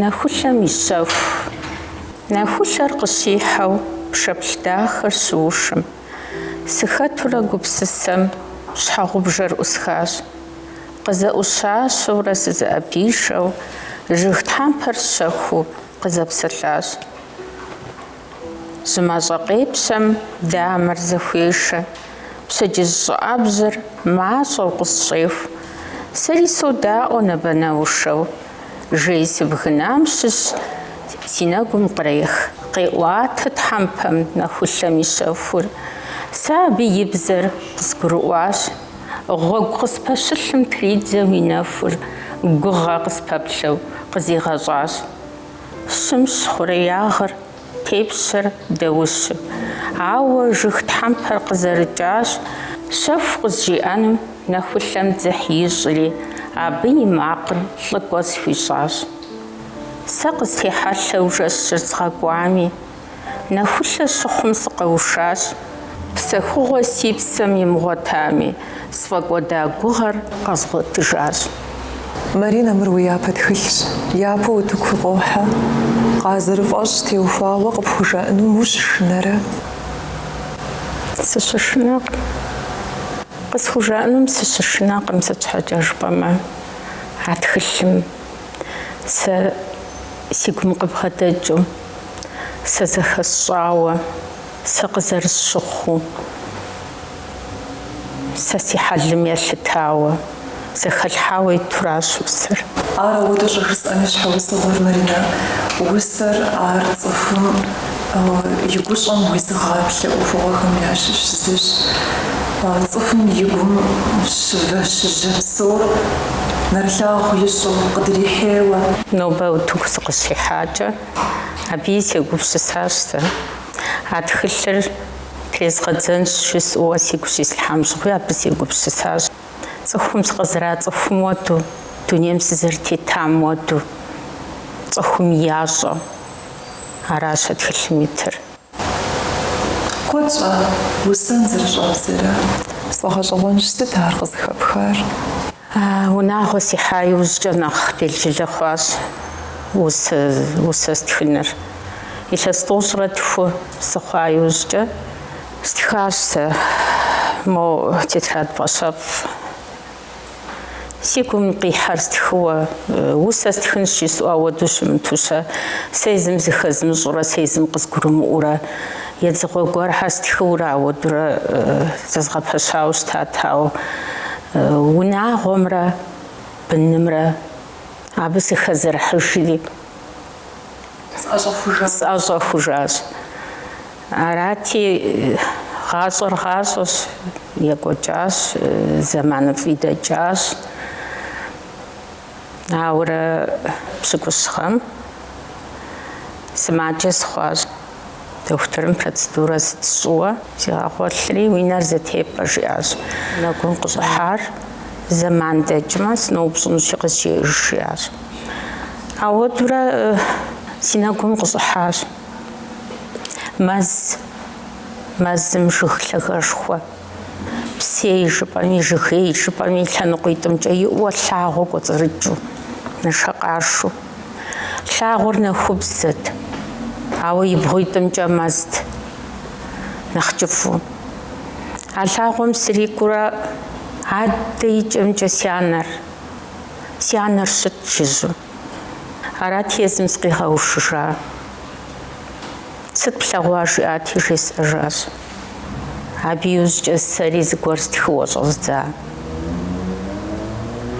Нэхулъэм и щэху. Нэхулъэр къыщихьэу пшэплъ дахэр щыушым, сыхэтурэ гупсысэм щхьэгъубжэр ӏусхащ. Къызэӏущащэурэ сызэӏэпишэу жыг тхьэмпэр щэхуу къызэпсэлъащ. Жьы мащӏэ къепщэм дамэр зэхуешэ, пщэдджыжь щӏыӏэбжьыр мащӏэу къысщӏеху. Сэри содаӏуэ набэнэушэу, жей сыбгынам щыщ си нэгум кърех, къеӏуатэ тхьэмпэм нэхулъэм и щэхур. Сэ абы и бзэр къысгурыӏуащ, гъуэгу къыспэщылъым тридзэу и нэхур гугъэ къыспэплъэу къызигъэщӏащ. Щымщ хъуреягъыр, тепщэр дэущым. Ауэ жыг тхьэмпэр къызэрыкӏащ, щэху къызжиӏэнум нэхулъэм дзыхь ищӏри, абы и макъыр лӏыкӏуэ схуищӏащ. Сэ къыстехьэлъэу жэщыр згъэкӏуами, Нэхулъэ щыхъум сыкъэушащ. Псэхугъуэ си псэм имыгъуэтами, сфӏэкӏуэда гугъэр къэзгъуэтыжащ. Маринэ, мыр уи япэ тхылъщ. Япэу утыку къохьэ. Къазэрыфӏэщӏ теухуауэ къыпхужаӏэнум ущышынэрэ? Сыщышынэкъым. Къысхужаӏэнум сыщышынэкъым, сыт щхьэкӏэ жыпӏэмэ, а тхылъым сэ си гум къыбгъэдэкӏыу. сэ зэхэсщӏауэ, сэ къызэрысщыхъуу, сэ си хьэлым елъытауэ, зэхэлъхьауэ итуращ усэр. Ар ауэдэу щӏыжысӏэм и щхьэусыгъуэр, Маринэ, усэр ар цӏыхум и гущӏэм уизыгъаплъэ ӏуэхугъуэхэм ящыщ зыщ. Цӏыхум и гум щывэ-щыжьэ псор нэрылъагъу ищӏу, къыдрихьейуэ. Нобэ утыку Къыщихьакӏэ, абыи сегупсысащ сэ. А тхылъыр трезгъэдзэнщ жысӏэуэ сигу щислъхьам щыгъуи абы сегупсысащ. Цӏыхум сыкъызэрацӏыхум уэду, дунейм сызэрытетам уэду, цӏыхум ящӏэ. Аращ а тхылъым итыр. Куэд щӏа усэн зэрыщӏэбдзэрэ? Сфӏэгъэщӏэгъуэнщ сыт ар къызыхэпхар. Унагъуэ сихьа иужькӏэ нэхъ белджылэ хъуащ усэ стхыныр. Илъэс тӏощӏрэ тху сыхъуа иужькӏэ стхащ сэ мо тетрадь пӏащэфӏ. Си гум къихьэр стхыуэ, усэ стхынщ жысӏэу ауэду щымыту-щэ, сэ езым зыхэзмыщӏурэ, сэ езым къызгурымыӏуурэ, едзыгъуэ гуэрхэр стхыурэ ауэдурэ зэзгъэпэщауэ щытат, ауэ унагъуэмрэ бынымрэ абы сыхэзэрыхьыжри. сӏэщӏэхужащ. Арати, гъащӏэр гъащӏэщ, екӏуэкӏащ, зэманыфӏи дэкӏащ. Ауэрэ пщыкӏущ гъэм сымаджэ сыхъуащ. Дохутырым процедурэ сыт сщӏыуэ сигъэгъуэлъри, уи нэр зэтепӏэ, жиӏащ. Нэгум къыщӏыхьар зэман дэкӏмэ, сыноупщӏынущи къызжеӏэж, жиӏащ. Ауэдурэ си нэгум къыщӏыхьащ. Мэз, мэзым жыг лъагэшхуэ. Псей жыпӏэми, жыгей жыпӏэми лъэныкъуитӏымкӏэ иӏуэ лъагъуэ кӏуэцӏрыкӏыу, нэшэкъашэу. Лъагъуэр нэхубзэт, ауэ и бгъуитӏымкӏэ мэзт, нэхъ кӏыфӏу. А лъагъуэм срикӏуурэ адэ и кӏэмкӏэ си анэр, си анэр щыт жыжьэу. Арат езым сыкъигъэушыжа. Сыт плъэгъуа жиӏати, жесӏэжащ. Абы иужькӏэ сэри зыгуэр стхыуэ щӏэздза.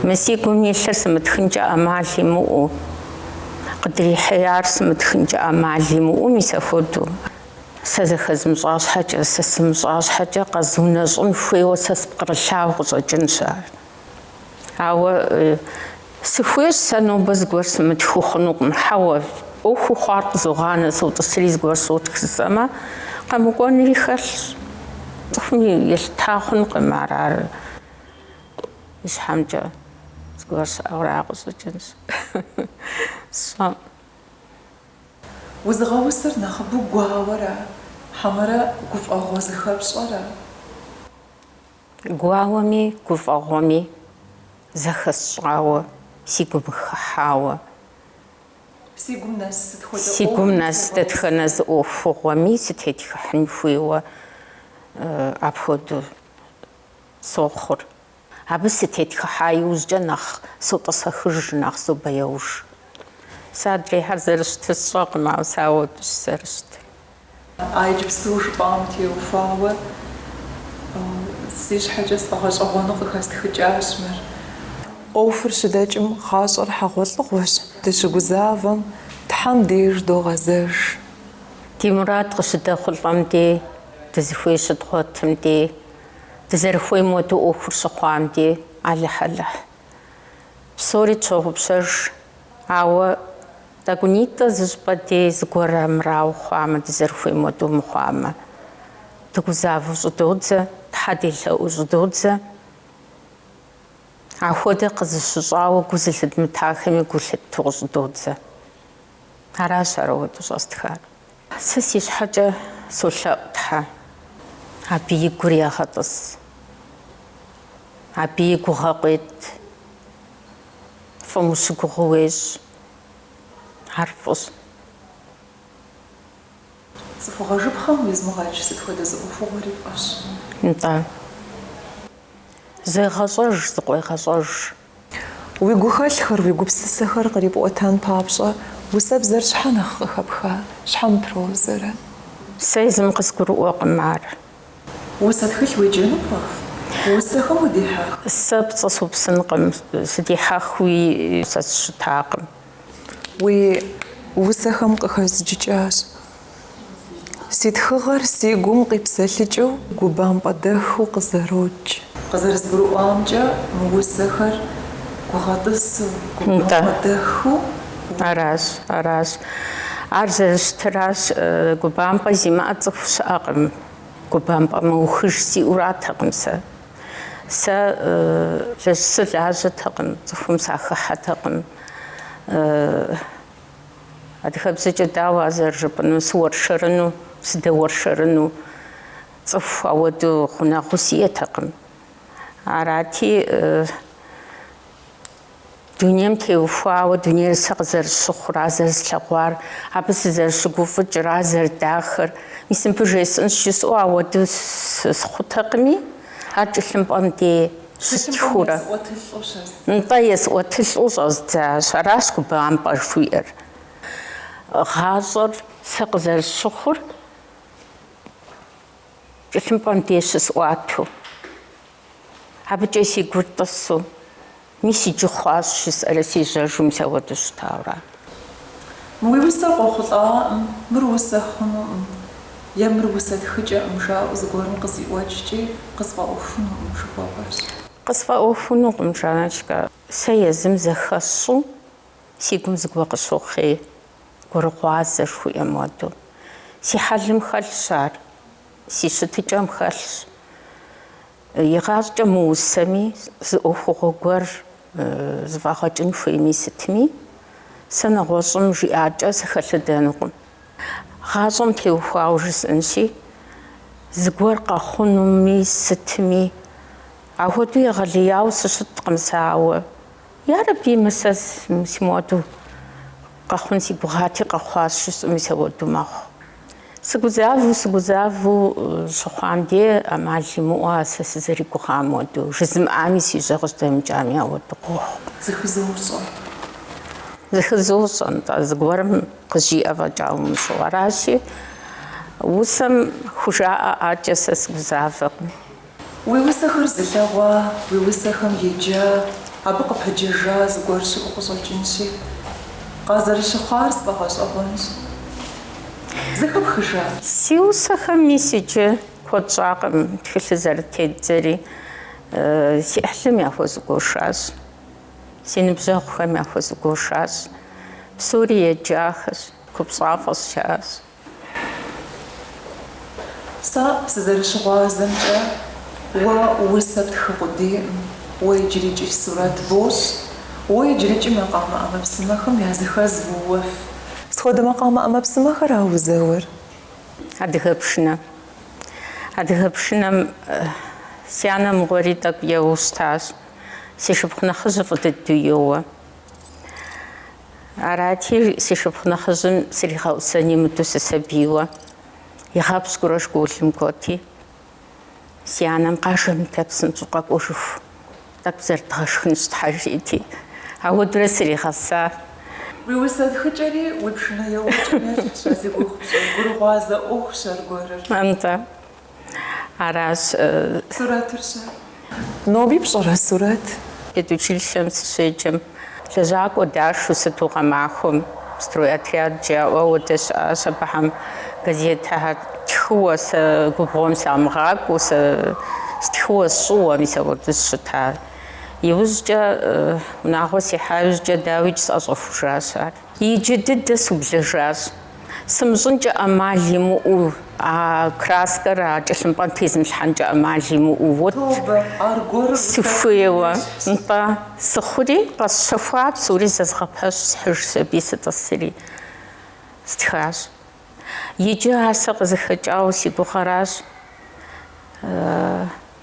Мы си гум илъыр сымытхынкӏэ ӏэмал имыӏэу, къыдрихьеяр сымытхынкӏэ ӏэмал имыӏэу мис апхуэдэу. Сэ зэхэзмыщӏа щхьэкӏэ, сэ сымыщӏа щхьэкӏэ къэзунэщӏын хуейуэ сэ спкърылъауэ къыщӏэкӏынщ ар. Ауэ сыхуейщ сэ нобэ зыгуэр сымытхыу хъунукъым, хьэуэ, ӏуэхуу хъуар къызогъанэ, сотӏысри зыгуэр сотх жысӏэмэ, къэмыкӏуэнри хэлъщ. Цӏыхум елъыта хъункъым ар, ар и щхьэмкӏэ зыгуэр щыӏэу ара къыщӏэкӏынщ, сщӏэкъым. Узыгъэусэр нэхъыбэу гуауэра, хьэмэрэ гуфӏэгъуэ зыхэпщӏэра? Гуауэми гуфӏэгъуэми зэхэсщӏауэ си гум хыхьауэ. Си гум нэс дэтхэнэ зы ӏуэхугъуэми сытетхыхьын хуейуэ апхуэдэу сохъур. Абы сытетхыхьа иужькӏэ нэхъ сотӏысэхыж, нэхъ собэяуж. Сэ адрейхьэр зэрыщытыр сщӏэкъым, ауэ сэ ауэдущ сызэрыщытыр. А иджыпсту жыпӏам теухуауэ си щхьэкӏэ сфӏэгъэщӏэгъуэну къыхэстхыкӏащ мыр. ӏуэхур щыдэкӏым гъащӏэр хьэгъуэлӏыгъуэщ, дыщыгузавэм Тхьэм деж догъэзэж. Ди мурад къыщыдэхъулӏэм дей, дызыхуей щыдгъуэтым дей, дызэрыхуейм хуэдэу ӏуэхур щыхъуам дей, Алыхь, Алыхь. Псори тщогъупщэж Ауэ тӏэкӏунитӏэ зыщӏыпӏэ дей зыгуэр амырауэ хъуамэ, дызэрыхуейм хуэдэу мыхъуамэ, дыгузавэу щӏыдодзэ, Тхьэ делъэӏуу щӏыдодзэ. Ахуэдэ къызыщыщӏауэ гу зылъыдмытахэми гу лъытту къыщӏыдодзэ. Аращ ар ауэдэу щӏэстхар. Сэ си щхьэкӏэ солъэӏу Тхьэ, абы и гур егъэтӏыс, абы и гугъэ къует. Фӏым ущыгугъыу уещӏ, ар фӏыщ. Цӏыхугъэ жыпхъэм уизымыгъэкӏ сыт хуэдэ зы ӏуэхугъуэри фӏыщ. Нтӏэ, зегъэщӏэж, зыкъуегъэщӏэж. Уи гухэлъхэр, уи гупсысэхэр кърипӏуэтэн папщӏэ усэбзэр щхьэ нэхъ къыхэпха, щхьэ мыпрозэрэ? Сэ езым къызгурыӏуэкъым ар. Усэ тхылъ уеджэну пфӏэфӏ? Усэхэм удихьэх? Сэ пцӏы супсынкъым, сыдихьэхуи сэ сыщытакъым. Уи усэхэм къыхэзджыкӏащ. Си тхыгъэр си гум къипсэлъыкӏыу губампӏэ дэхыу къызэрокӏ. Къызэрызгурыӏуамкӏэ, мы усэхэр гугъэтӏысу, губампӏэ дэхыу уотх. Аращ, аращ. Ар зэрыщытыращ, губампӏэ зимыӏэ цӏыху щыӏэкъым. Губампӏэ мыухыж сиӏэуратэкъым сэ. Сэ жэщ сылажьэтэкъым, цӏыхум сахыхьэтэкъым. Адыгэбзэкӏэ дауэ ар зэрыжыпӏэнур, сыуэршэрыну, сыдэуэршэрыну, цӏыху ауэдэу гъунэгъуу сиӏэтэкъым. Арати, дунейм теухуауэ, дунейр сэ къызэрысщыхъур, ар зэрыслъэгъуар, абы сызэрыщыгуфӏыкӏыр, ар зэрыдахэр, мис мыбы жесӏэнщ жысӏэу ауэдэу схъутэкъыми, ар тхылъымпӏэм дей. Щыстхыурэ нтӏэ есӏуэтылӏу щӏэздзащ, аращ губампӏэ жыхуиӏэр. Гъащӏэр сэ къызэрысщыхъур тхылъымпӏэм деж щысӏуату, абыкӏэ си гур тӏысу, мис иджы хъуащ жысӏэрэ сежьэжу, мис ауэдэу щытауэ ара? Мы уи усэр къохъулӏакъым, мыр усэ хъунукъым е мыр усэ тхыкӏэкъым жаӏэу зыгуэрым къызиӏуэкӏкӏи, къысфӏэӏуэхунукъым жыхуэпӏэрщ. Къысфӏэӏуэхунукъым, Жанночкэ, сэ езым зэхэсщӏу си гум зыгуэ къыщохъей, гурыгъуазэ жыхуиӏэм хуэдэу. Си хьэлым хэлъщ ар, си щытыкӏэм хэлъщ. Игъащӏэкӏэ мы усэми зы ӏуэхугъуэ гуэр зыфӏэгъэкӏын хуейми сытми, сэ нэгъуэщӏым жиӏакӏэ сыхэлъэдэнукъым. Гъащӏэм теухуауэ жысӏэнщи, зыгуэр къэхъунуми сытми, ахуэдэу егъэлеяуэ сыщыткъым сэ, ауэ, ярэби, мы сэ си моду къэхъун си гугъати къэхъуащ жысӏэми сэ уэду мэхъу. Сыгузавэу, сыгузавэу щыхъуам де, ӏэмал имыӏэу а сэ сызэригугъам уэдэу, жызымыӏами си жьэ къыжьэдэмыкӏами ауэду къохъу. Зыхызощӏэ. Зыхызощӏэ, нтӏэ, зыгуэрым къызжиӏэ фӏэкӏа умыщӏэу. Аращи, усэм хужаӏэӏакӏэ сэ сыгузавэкъым. Уи усэхэр зылъэгъуа, уи усэхэм еджа, абы къыпэджэжа зыгуэр щыӏэу къыщӏэкӏынщи, къазэрыщыхъуар сфӏэгъэщӏэгъуэнщ. Зэхэпхыжа? Си усэхэм мис иджы куэд щӏакъым тхылъыр зэрытедзэри. Си ӏыхьлым яхуэзыгуэшащ, си ныбжьэгъухэм яхуэзыгуэшащ. Псори еджахэщ, купщӏафӏэщ жаӏащ. Сэ сызэрыщыгъуазэмкӏэ, уэ усэ птхы къудейкъым, уэ иджырыкӏи сурэт бощӏ, уэ иджырыкӏи макъамэ ӏэмэпсымэхэм языхэз уоуэф. Сыт хуэдэ макъамэ ӏэмэпсымэхэра узэуэр? Адыгэ пшынэ. Адыгэ пшынэм си анэ мыгъуэри тӏэкӏу еуэу щытащ. Си шыпхъу нэхъыжьыр фӏы дыдэу йоуэ. Арати, си шыпхъу нэхъыжьым сригъэӏусэн имыдэу сысабийуэ, игъэпщкӏурэ школым кӏуэти, си анэм къажэ мыдэ, псынщӏэу къэкӏуэжыху, тӏэкӏу зэрыдгъэшхынщ Тхьэ жиӏэти, ауэдурэ сригъэса. Уи усэ тхыкӏэри уи пшынэ еуэкӏэм ещхьщ, сэ си гугъэщ, гурыгъуазэ ӏуэхущ аргуэрыр. Нтӏэ, Аращ. Сурэтыр-щэ? Ноби пщӏэрэ сурэт? Педучилищэм сыщеджэм, лэжьакӏуэ дашэу сыту гъэмахуэм стройотряд жаӏэу ауэдэ щыӏащ. Абыхьэм газетхэр тхыуэ, сэ губгъуэм сямыгъакӏуэу, сэ стхыуэ сщӏыуэ, мис ауэдэу сыщыта. Иужькӏэ, унагъуэ сихьа иужькӏэ, дауикӏ, сӏэщӏэхужащ ар. Иджы дыдэ сублэжащ. Сымыщӏынкӏэ ӏэмал имыӏэу, а краскэр а кӏэлъымпӏэм тезымылъхьэнкӏэ ӏэмал имыӏэу вот сыхуейуэ, нтӏэ, сыхъури, къэсщэхуа псори зэзгъэпэщ, схьыжщ аби сытӏысри. Стхащ. Иджы ар сэ къызыхэкӏауэ си гугъэращ.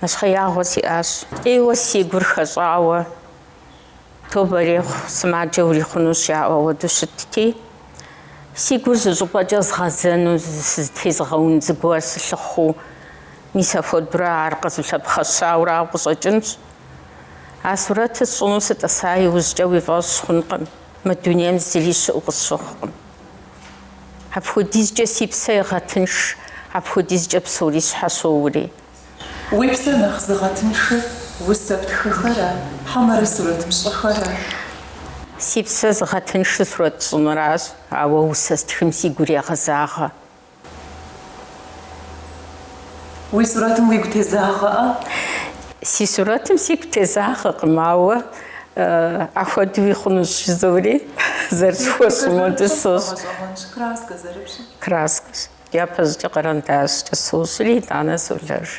Нэщхъеягъуэ сиӏащ. Ӏейуэ си гур хэщӏауэ. Тобэ ирехъу, сымаджэ урихъунущ жаӏуэ ауэдэу щытти, си гур зы щӏыпӏэкӏэ згъэзэну сызытезыгъэун зыгуэр сылъыхъуу, мис апхуэдурэ ар къызулъэпхъэщауэ арауэ къыщӏэкӏынщ. А сурэтыр сщӏыну сытӏыса иужькӏэ уи фӏэщ хъункъым, мы дунейм зыри щыӏэу къысщыхъукъым. Апхуэдизкӏэ си псэ егъэтынш, апхуэдизкӏэ псори сщхьэщоури. Уи псэ нэхъ зыгъэтыншыр усэ птхыхэра, хьэмэрэ сурэт пщӏыхэра? Си псэ зыгъэтыншыр сурэт щӏыныращ, ауэ усэ стхым сигу ирегъэзагъэ. Уи сурэтым уигу тезагъэӏэ? Си сурэтым сигу тезагъэкъым, ауэ ахуэдэуи хъунущ жызори, зэрысхуэщӏым хуэдэу сощӏ. Краскэ зэрыпщӏыр? Краскэщ. Япэщӏыкӏэ къэрэндащкӏэ сощӏри, итӏанэ солэж.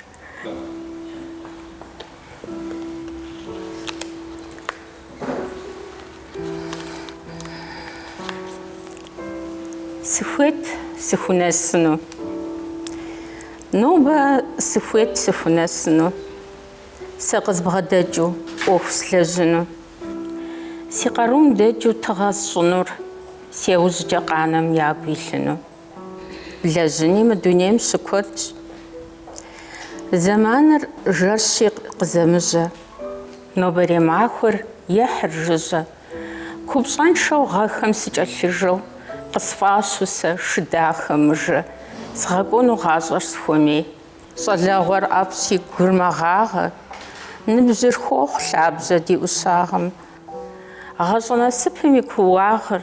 Сыхуейт сыхунэсыну. Нобэ сыхуейт сыхунэсыну. Сэ къызбгъэдэкӏыу ӏуэху слэжьыну. Си къарум дэкӏыу тыгъэ сщӏынур, си яужькӏэ къанэм ягу илъыну. Блэжьыни мы дунейм щыкуэдщ. Зэманыр жэрщи къызэмыжьэ. Нобэрей махуэр ехьыр жыжьэ. Купщӏэншэу гъэхэм сыкӏэлъыжэу. Къысфӏащу сэ шы дахэ мыжэ. Згъэкӏуэну гъащӏэр схуэмей. Щӏалэгъуэр ӏэфӏщи гур мэгъагъэ. Ныбжьыр хохъу лъабжьэ ди ӏущагъым. Гъащӏэ насыпым и кууагъыр.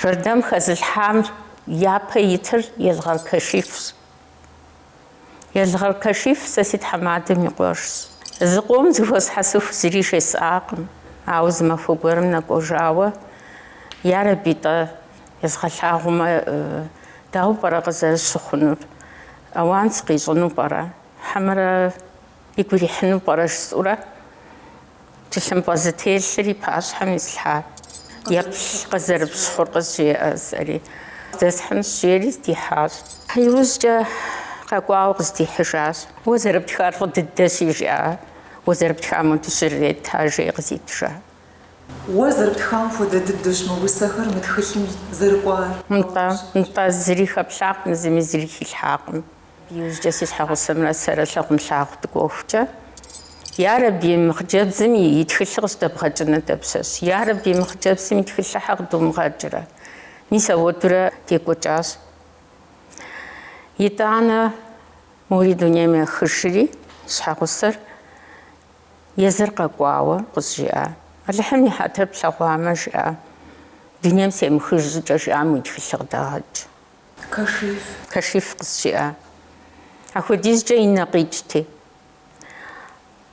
Жэрдэм хэзылъхьам япэ итыр Елгъэр Кашифщ. Елгъэр Кашиф сэ си тхьэмадэм и къуэшщ. Зы къом зыхуэсхьэсыху зыри жесӏакъым, ауэ зы махуэ гуэрым нэкӏуэжауэ, Ярэби-тӏэ, езгъэлъагъумэ, дауэ пӏэрэ къызэрыщыхъунур? Ауан сыкъищӏыну пӏэрэ? Хьэмэрэ? Игу ирихьыну пӏэрэ жысӏэурэ, тхылъымпӏэ зытелъыр и пащхьэм ислъхьа еплъ къызэрыпщхъур къызжеӏэ жысӏэри, Здэсхьынщ, жери здихьащ. Иужькӏэ къэкӏуауэ къыздихьыжащ. Уэ зэрыптхар фӏы дыдэщи, жиӏа, уэ зэрыптхам уэду щыррета, жеи къызитыжа. Уэ зэрыптхам хуэдэ дыдэщ мы усэхэр мы тхылъым зэрыкӏуар. Нтӏэ, нтӏэ, зыри хэплъакъым, зыми зыри хилъхьакъым. Иужькӏэ си щхьэгъусэмрэ сэрэ лъагъунлъагъу дыкӏуэхукӏэ, Ярэби, мы хъыджэбзым и тхылъыр къыщыдэбгъэкӏыну дапщэщ? Ярэби, мы хъыджэбзым и тхылъыр щхьэ къыдумыгъэкӏрэ? Мис ауэдурэ декӏуэкӏащ. Итӏанэ мори дунейм ехыжри, щхьэгъусэр езыр къэкӏуауэ къызжиӏа? Алыхьым и хьэтыр плъэгъуамэ, жиӏа, Дунейм семыхыж щӏыкӏэ жиӏам уи тхылъыр къыдэгъэкӏ. Кашиф. Кашиф къызжиӏа апхуэдизкӏэ и нэ къикӏти.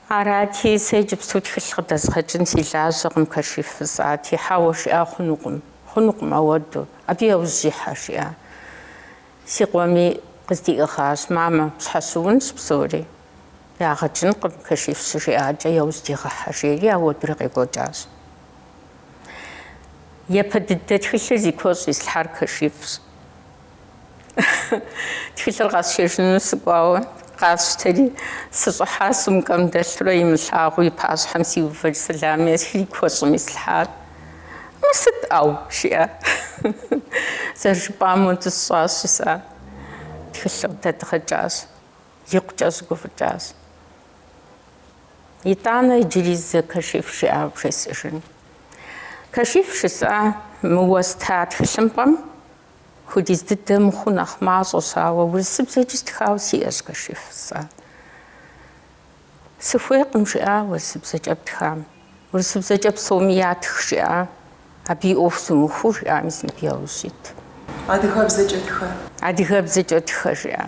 Арати, сэ иджыпсту тхылъ къыдэзгъэкӏын си лажьэкъым, Кашиф жысӏати, хьэуэ, жиӏа, хъунукъым, хъунукъым ауэду, абы яужь ихьэ, жиӏа. Си къуэми къыздиӏыгъащ, мамэ, пщхьэщыунщ псори, ягъэ кӏынкъым, Кашиф щыжиӏакӏэ яужь дигъэхьэ, жери ауэдури къекӏуэкӏащ. Япэ дыдэ тхылъыр зи куэщӏ ислъхьар Кашифщ. Тхылъыр къэсшэжыну сыкӏуауэ, къасщтэри, сыщӏыхьа сумкэм дэлъурэ имылъагъуу и пащхьэм сиувэри сэлам есхри куэщӏым ислъхьар. Мыр сыт, ӏэу? жиӏа. Зэрыжыпӏам уэду сщӏащ, жысӏа, тхылъыр къыдэдгъэкӏащ. Икъукӏэ щыгуфӏыкӏащ. Итӏанэ иджыри зы кашиф жиӏауэ бжесӏэжын. Кашиф жысӏа мы уэста тхылъымпӏэм хуэдиз дыдэ мыхъуу нэхъ мащӏэщ, ауэ урысыбзэкӏи стхауэ сиӏэщ кашиф жысӏа. Сыхуейкъым жиӏа урысыбзэкӏэ птхам, урысыбзэкӏэ псоми ятх жиӏа, абы и ӏуэху зумыхуу жиӏа мис мыбы яужь ит. Адыгэбзэкӏэ тхэ. Адыгэбзэкӏэ тхэ жиӏа.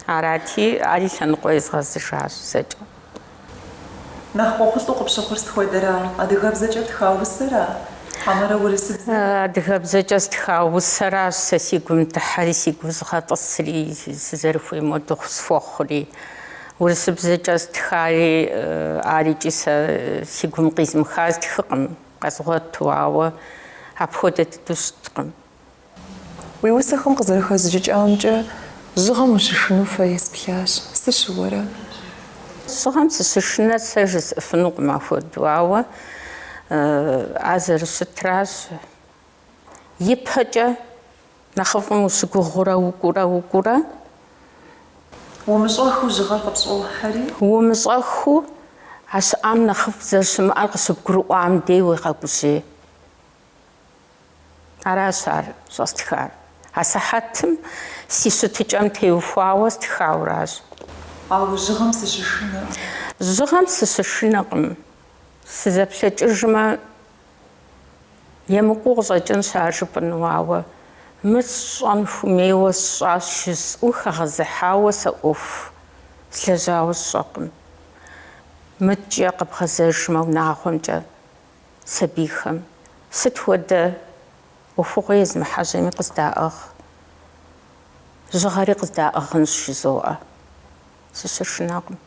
Арати, ари лъэныкъуэ езгъэзыжащ зэкӏэ. Нэхъ ӏуэхулӏу къыпщыхъур сыт хуэдэра, адыгэбзэкӏэ птха усэра, хьэмэрэ урысыбзэра? Адыгэбзэкӏэ стха усэращ сэ си гум дыхьэри, сигу зыгъэтӏысри, сызэрыхуейм уэду схуэхъури. Урысыбзэкӏэ стхари, арикӏи сэ си гум къизмыха стхыкъым, къэзгъуэту, ауэ апхуэдэ дыдэу щыткъым. Уи усэхэм къызэрыхэзджыкӏамкӏэ жьыгъэм ущышыну фэ есплъащ. Сыщыуэрэ? Жьыгъэм сыщышынэу сэ жысӏыфынукъым апхуэдэу, ауэ ар зэрыщытращ, ипэкӏэ Нэхъыфӏым ущыгугъыурэ укӏуурэ, укӏуурэ. Умыщӏэхыу жьыгъэр къыпщӏохьэри. Умыщӏэхыу а щыӏам нэхъыфӏ зэрыщымыӏэр къыщыбгурыӏуам дей уегъэгужьей. Аращ ар щӏэстхар. А сыхьэтым си щытыкӏэм теухуауэ стхауращ. Ауэ жьыгъэм сыщышынэркъым. Жьыгъэм сыщышынэкъым. Сызэплъэкӏыжмэ. Емыкӏуу къыщӏэкӏынщ ар жыпӏэну, ауэ мыр сщӏэн хуэмейуэ сщӏащ жысӏэу хэгъэзыхьауэ сэ ӏуэху слэжьауэ сщӏэкъым. Мыткӏэ къэбгъэзэжмэ унагъуэмкӏэ сабийхэм сыт хуэдэ ӏуэхугъуэ езымыхьэжьэми къыздаӏыгъ, жьыгъэри къыздаӏыгъынщ жызоӏэ. Сыщышынэкъым.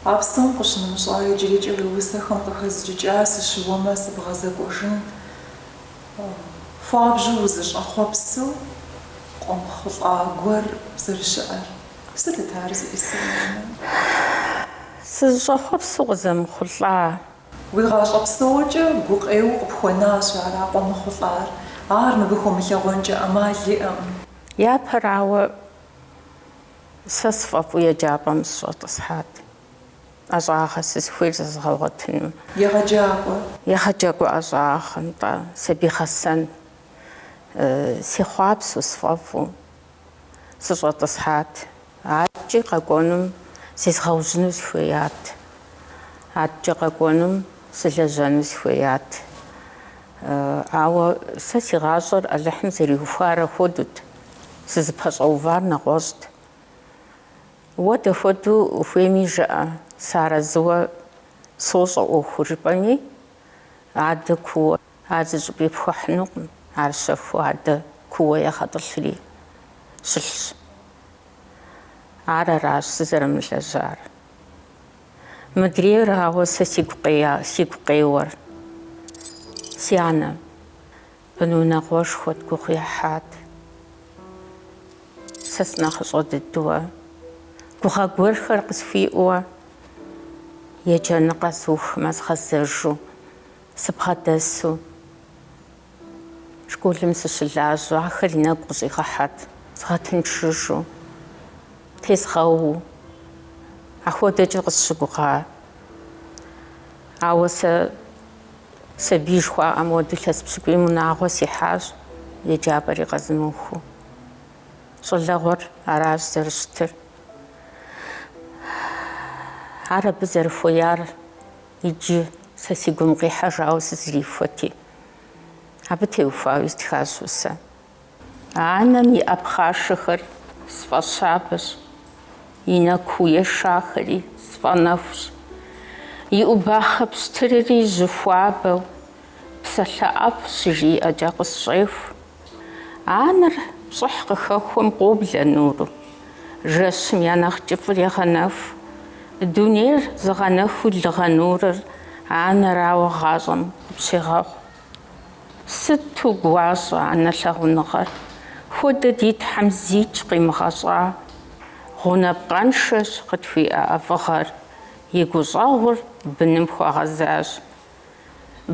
А псом къыщынымыщӏа иджырикӏэ уи усэхэм къыхэзджыкӏа сыщыуэмэ сыбгъэзэкӏуэжын хуабжьу узыщӏэхъуэпсу къомыхъулӏа гуэр зэрыщыӏэр? Сытыт ар зиӏысыр? Сызыщӏэхъуэпсу къызэмыхъулӏа? Уи гъащӏэ псокӏэ гукъеуэ къыпхуэнащ ар, а къомыхъулӏар. Ар мыбы хыумылъэгъуэнкӏэ ӏэмал иӏэкъым. Япэрауэ, Сэ сфӏэфӏу еджапӏэм сыщӏэтӏысхьат, ӏэщӏагъэ сызыхуейр зэзгъэгъуэтыну. Егъэджакӏуэ. Егъэджакӏуэ ӏэщӏагъэ нтӏэ, сабий гъэсэн. Сехъуапсэу, сфӏэфӏу сыщӏэтӏысхьат. Адэкӏи къэкӏуэнум зезгъэужьыну сыхуеят. Адэкӏи къэкӏуэнум сылэжьэну сыхуеят. Ауэ сэ си гъащӏэр Алыхьым зэриухуар ахуэдэут. Сызыпэщӏэувар нэгъуэщӏт. Уэ дэхуэдэу ухуейми жыӏэ, сыарэзыуэ сощӏэ ӏуэхуу жыпӏэми, адэ куууэ ар зыщӏыпӏи пхуэхьынукъым, ар щэхуу адэ куууэ егъэтӏылъри щылъщ. Ар аращ сызэрымылэжьар. Мыдрейрауэ сэ сигу къея, сигу къеуэр си анэм. Бынунагъуэшхуэт, гугъу ехьат. Сэ сынэхъыщӏэ дыдуэ, гугъэ гуэрхэр къысхуиӏуэ, еджэныгъэ сухмэ згъэзэжу, сыбгъэдэсу школым сыщылажьэу, ахэр и нэгу къыщӏигъэхьэт, згъэтыншыжу, тезгъэуу. Ахуэдэкӏэ къысщыгугъа. Ауэ сэ. Сабий жыхуаӏэм хуэдэу илъэс пщыкӏуийм унагъуэ сихьащ, еджапӏэри къэзымыухыу. Щӏалэгъуэр аращ зэрыщытыр. Ар абы зэрыхуеяр иджы сэ си гум къихьэжауэ сызэрихуэти, абы теухуауи стхащ усэ. Анэм и ӏэпхъашэхэр сфӏэщабэщ, и нэ куу ешахэри сфӏэнэхущ. И ӏубахъэ пщтырри жьы хуабэу, псалъэ ӏэфӏ щыжиӏэкӏэ къысщӏеху. Анэр пщӏыхь къыхэхуэм къоблэ нуру, жэщым я нэхъ кӏыфӏыр егъэнэху. Дунейр зыгъэнэхуу лыгъэ нурыр анэрауэ гъащӏэм къыпщегъэхъу. Сыту гуащӏэ анэ лъагъуныгъэр! Хуэдэ ди Тхьэм зикӏ къимыгъэщӏа. Гъунапкъэншэщ къытхуиӏэ ӏэфӏыгъэр, и гущӏэгъур быным хуэгъэзащ.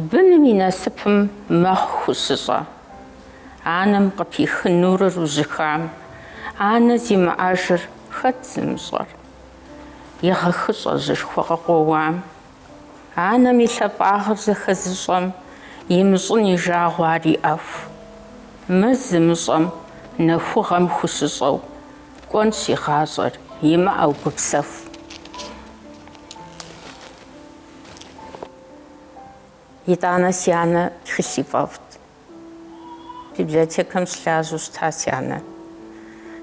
Быным и насыпым мэхъу хущыщӏэ. Анэм къыпих нурыр ужьыхам, анэ зимыӏэжыр хэт зымыщӏэр? Егъэхыщӏэ жьышхуэ къыкъуэуам Анэм и лъапӏагъыр зэхэзыщӏэм имыщӏын и жагъуэ ар иӏэху. Мыр зымыщӏэм нэхугъэм хущыщӏэу кӏуэнщ и гъащӏэр, имыӏэу гупсэху. Итӏанэ си анэ тхылъ ифӏэфӏт. Библиотекэм щылажьэу щыта си анэ.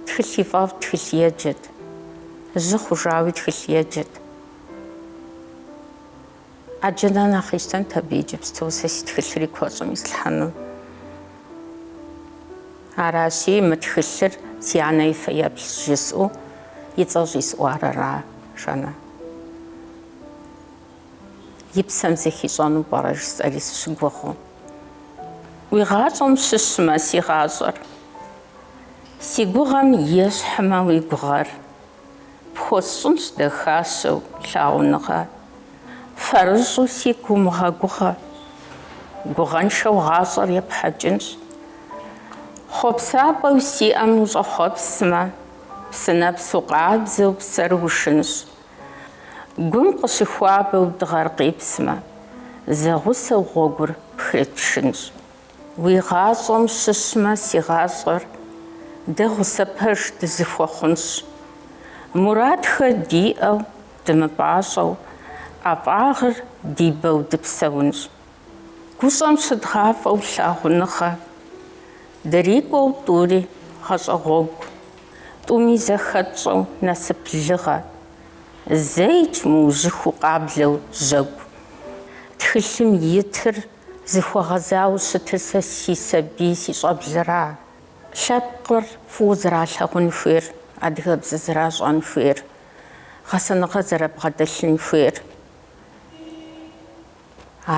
Тхылъ ифӏэфӏт, тхылъ еджэт. Жьы хъужауи тхылъ еджэт. Ӏэджэ нэхъ нэхъ къищтэнт абы иджыпсту сэ си тхылъыр и куэщӏым ислъхьэну. Аращи, мы тхылъыр си анэ и фэеплъщ жысӏэу и цӏэ щӏисӏуар аращ, анэ И псэм зэхищӏэну пӏэрэ жысӏэри сыщыгугъыу. Уи гъащӏэм щыщмэ си гъащӏэр. Си гугъэм ещхьмэ уи гугъэр. Пхуэсщӏынщ дахащэу лъагъуныгъэ. Фэрыщӏу сигу умыгъэгугъэ. Гугъэншэу гъащӏэр епхьэкӏынщ. Хъуэпсапӏэу сиӏэм ущӏэхъуэпсмэ. Псынэпсу къабзэу псэр ушынщ. Гум къыщыхуабэу дыгъэр къипсмэ, зэгъусэу гъуэгур пхрытшынщ. Уи гъащӏэм щыщмэ, си гъащӏэр дэ гъусэ пэж дызыхуэхъунщ. Мурадхэр диӏэу, дымыпӏащӏэу, ӏэфӏагъыр ди бэу дыпсэунщ. Гущӏэм щыдгъафӏэу лъагъуныгъэ дырикӏуэу тӏури гъащӏэ гъуэгу, тӏуми зэхэтщӏэу насып лыгъэ, зэикӏ мыужьыхуу къаблэу жьэгу. Тхылъым итыр зыхуэгъэзауэ щытыр сэ си сабий си щӏэблэра. Лъэпкъыр фӏыуэ зэралъагъун хуейр, адыгэбзэ зэращӏэн хуейр, гъэсэныгъэ зэрабгъэдэлъын хуейр.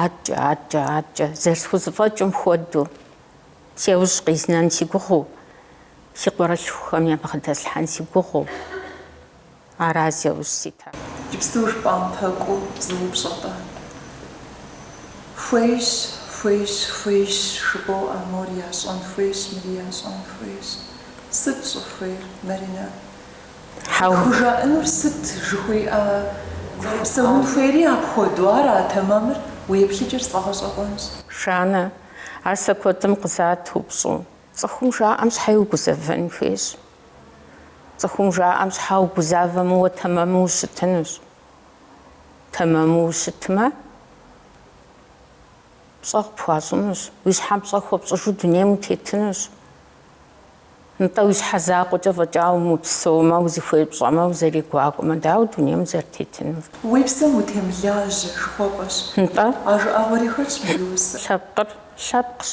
Аткӏэ, аткӏэ, аткӏэ, зэрысхузэфӏэкӏым хуэдэу, Сеужь къизнэн си гугъэу, си къуэрылъхухэм ябгъэдэслъхьэн си гугъэу, аращ зи ужь ситыр. Иджыпсту жыпӏам пэкӏуу зы упщӏэ-тӏэ? Хуейщ, хуейщ, хуейщ, жыпӏэу а мор ящӏэн хуейщ, мыри ящӏэн хуейщ. Сыт щӏыхуейр, Маринэ? Хьэу. Хужаӏэнур сыт жыхуиӏэ, псэун хуейри апхуэдэу ара тэмэмыр, уи еплъыкӏэр сфӏэгъэщӏэгъуэнщ. Жаннэ, ар сэ куэдым къызат упщӏу. Цӏыхум жаӏэм щхьэ иригузэвэн хуейщ? Цӏыхум жаӏэм щхьэ угузавэмэ, уэ тэмэму ущытынущ. Тэмэму ущытмэ, пщӏэ къыпхуащӏынущ, уи щхьэм пщӏэ хуэпщӏыжу дунейм утетынущ. Нтӏэ, уи щхьэ закъуэкӏэ фӏэкӏа умыпсэумэ, узыхуей пщӏэмэ, узэрегуакӏуэмэ, дауэ дунейм узэрытетынур? Уи псэм утемылажьэ, жыхуэпӏэщ. Нтӏэ. А жыӏэгъуэри хэтщ мы усэм. Лъэпкъыр лъэпкъщ.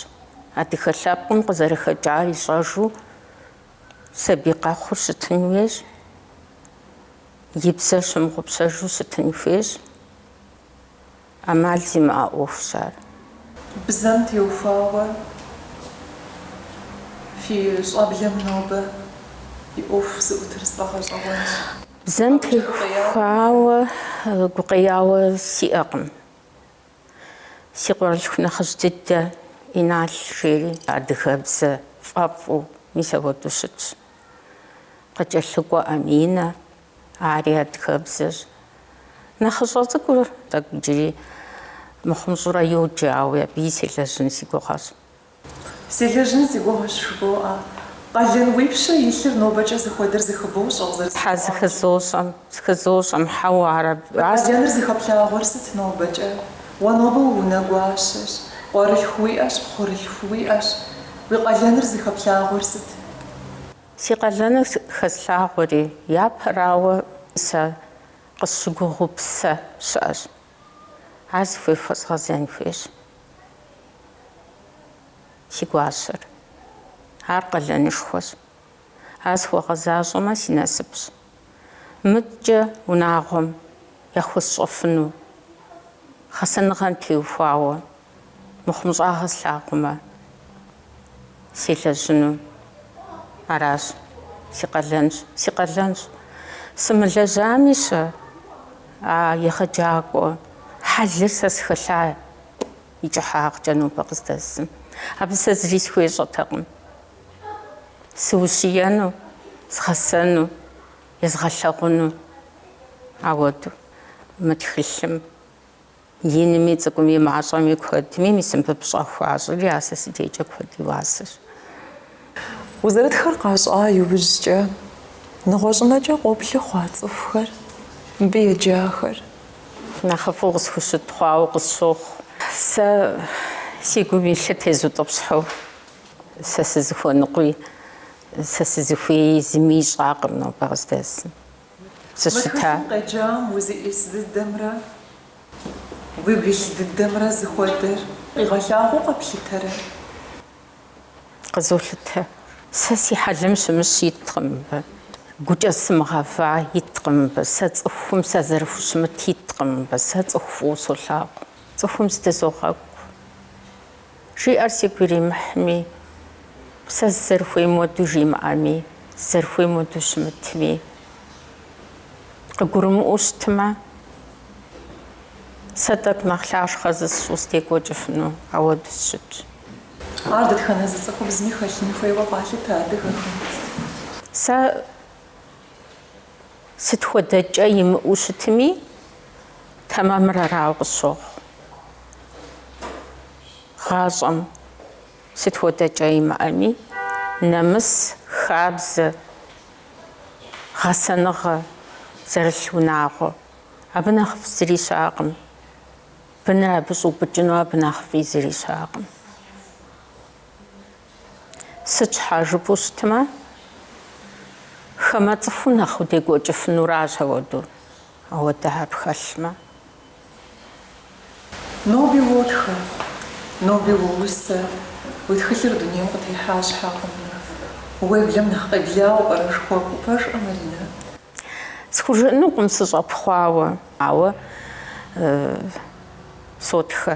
Адыгэ лъэпкъым къызэрыхэкӏар ищӏэжу сабий къэхъур щытын хуейщ, и бзэр щымыгъупщэжу щытын хуейщ, ӏэмал зимыӏэ ӏуэхущ ар. Бзэм теухуауэ фи щӏэблэм нобэ и ӏуэху зыӏутыр сфӏэгъэщӏэгъуэнщ. Бзэм теухуауэ гукъеяуэ сиӏэкъым. Си къуэрылъху нэхъыжь дыдэ Инал жери адыгэбзэ фӏэфӏу мис апхуэдэу щытщ. Къыкӏэлъыкӏуэ Аминэ Ари адыгэбзэщ. Нэхъыщӏэ цӏыкӏур тӏэкӏу иджыри мыхъу-мыщӏэурэ йоджэ, ауи абыи селэжьын си гугъэщ. Селэжьын си гугъэщ жыбоӏэ. Къалэн уипщэ илъыр нобэкӏэ зыхуэдэр зыхыбощӏэ, къызэрысхуэкӏуам. Тхьэ, зыхызощӏэм, зыхызощӏэм, хьэуэ, ар абы. Къалэныр зыхэплъагъуэр сыт нобэкӏэ? Уэ нобэ уунэгуащэщ, къуэрылъху уиӏэщ, пхъурылъху уиӏэщ. Уи къалэныр зыхэплъагъуэр сыт? Си къалэныр хэслъагъуэри, япэрауэ сэ къысщыгугъыу псэ щыӏэщ. Ар зыхуей хуэзгъэзэн хуейщ си гуащэр. Ар къалэнышхуэщ. Ар схуэгъэзащӏэмэ, си насыпщ. Мыткӏэ унагъуэм яхуэсщӏэфыну гъэсэныгъэм теухуауэ Мыхъумыщӏагъэ слъагъумэ, селэжьыну аращ, си къалэнщ, си къалэнщ. Сымылэжьами-щэ, а егъэджакӏуэ хьэлыр сэ схэлъа и кӏыхьагъкӏэ нобэ къыздэсым. Абы сэ зыри схуещӏэтэкъым. Сыущиену, згъэсэну, езгъэлъэгъуну ауэду мы тхылъым. Инми, цӏыкӏуми, мащӏэми, куэдми мис мыбы пщӏэ хуащӏри, а сэ си дежкӏэ куэд и уасэщ. Узэрытхэр къащӏа иужькӏэ, нэгъуэщӏынэкӏэ къоплъы хъуа цӏыхухэр, мыбы еджахэр? Нэхъыфӏу къысхущыт хъуауэ къысщохъу. Сэ си гум илъыр тезутӏыпщхьэу, сэ сызыхуэныкъуи, сэ сызыхуеи зыми ищӏакъым нобэ къыздэсым. Сыщыта? Мы тхылъым къеджам узищӏыс дыдэмрэ уигу илъ дыдэмрэ зыхуэдэр къигъэлъагъуэу къэплъытэрэ? Къызолъытэ. Сэ си хьэлым щымыщ иткъым мыбы, гукӏэ сымыгъэва иткъым мыбы, сэ цӏыхум сазэрыхущымыт иткъым мыбы, сэ цӏыху фӏыуэ солъагъу, цӏыхум зыдызогъэкӏу. Жиӏэр сигу иримыхьми, сэ сызэрыхуейм уэду жимыӏэми, сызэрыхуейм уэду щымытми, къыгурымыӏуэу щытмэ, сэ тӏэкӏу нэхъ лъахъшэ зысщӏу сыдекӏуэкӏыфыну ауэду сыщытщ. Ар дэтхэнэ зы цӏыхубзми хэлъын хуейуэ къалъытэ адыгэхэм? Сэ. Сыт хуэдэ кӏэ имыӏэу щытми, тэмэмыр арауэ къысщохъу. Гъащӏэм сыт хуэдэ кӏэ имыӏэми, нэмыс, хабзэ, гъэсэныгъэ зэрылъ унагъуэ, абы нэхъыфӏ зыри щыӏэкъым. Быныр абы щӏэупӏыкӏыну абы нэхъыфӏи зыри щыӏэкъым. Сыт щхьа жыпӏэу щытмэ, хамэ цӏыху нэхъ удекӏуэкӏыфынуращ ауэдэу, ауэдэ хьэл пхэлъмэ. Ноби уотхэ, ноби уоусэ, уи тхылъыр дунейм къытехьа щхьэкъым. Уеблэм нэхъ къеблауэ пӏэрэ жыхуэпӏэу пэжкъэ, Маринэ? Схужыӏэнукъым сыщӏэпхъуауэ, ауэ сотхэ.